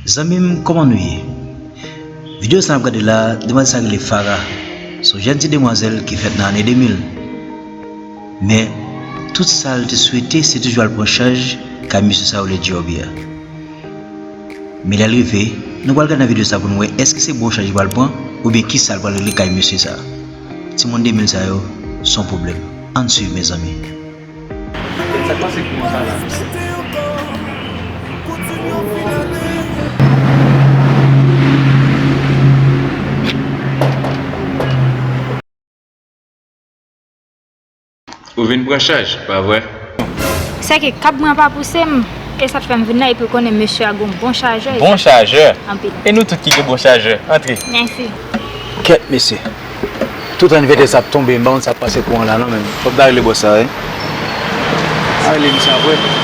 Zanmim koman nou ye Video sa nap gade la demwazèl sa rele Farah son jèn ti demwazèl ki fèt nan ane 2000 men tout sal te swete se toujou al pran chaj kay mesye sa yo rele G-Orbi a men lèl rive nou pral gad nan video sa poun wè èske se bon chaj li pral pran oubyen kisal pral regle kay mesye sa. Timoun 2000 sa yo son pwoblèm. Ann swiv mezanmi. Sak pase ki konsa la menm. Ou vin pran chaj, pa vre? Se ke kab mwen pa pouse m, e sa k fè m vin la, epi ou konnen mesye a gen yon bon chajè. Bon chajè? Anpil. E nou tout ki gen bon chajè. Antre. Mèsi. Kèt mesye. Tout an vètè sa ap tonbe, m pa konn sa k pase kouran la non menm. Fòk n ta rele bòs sa wi. An rele misye apre.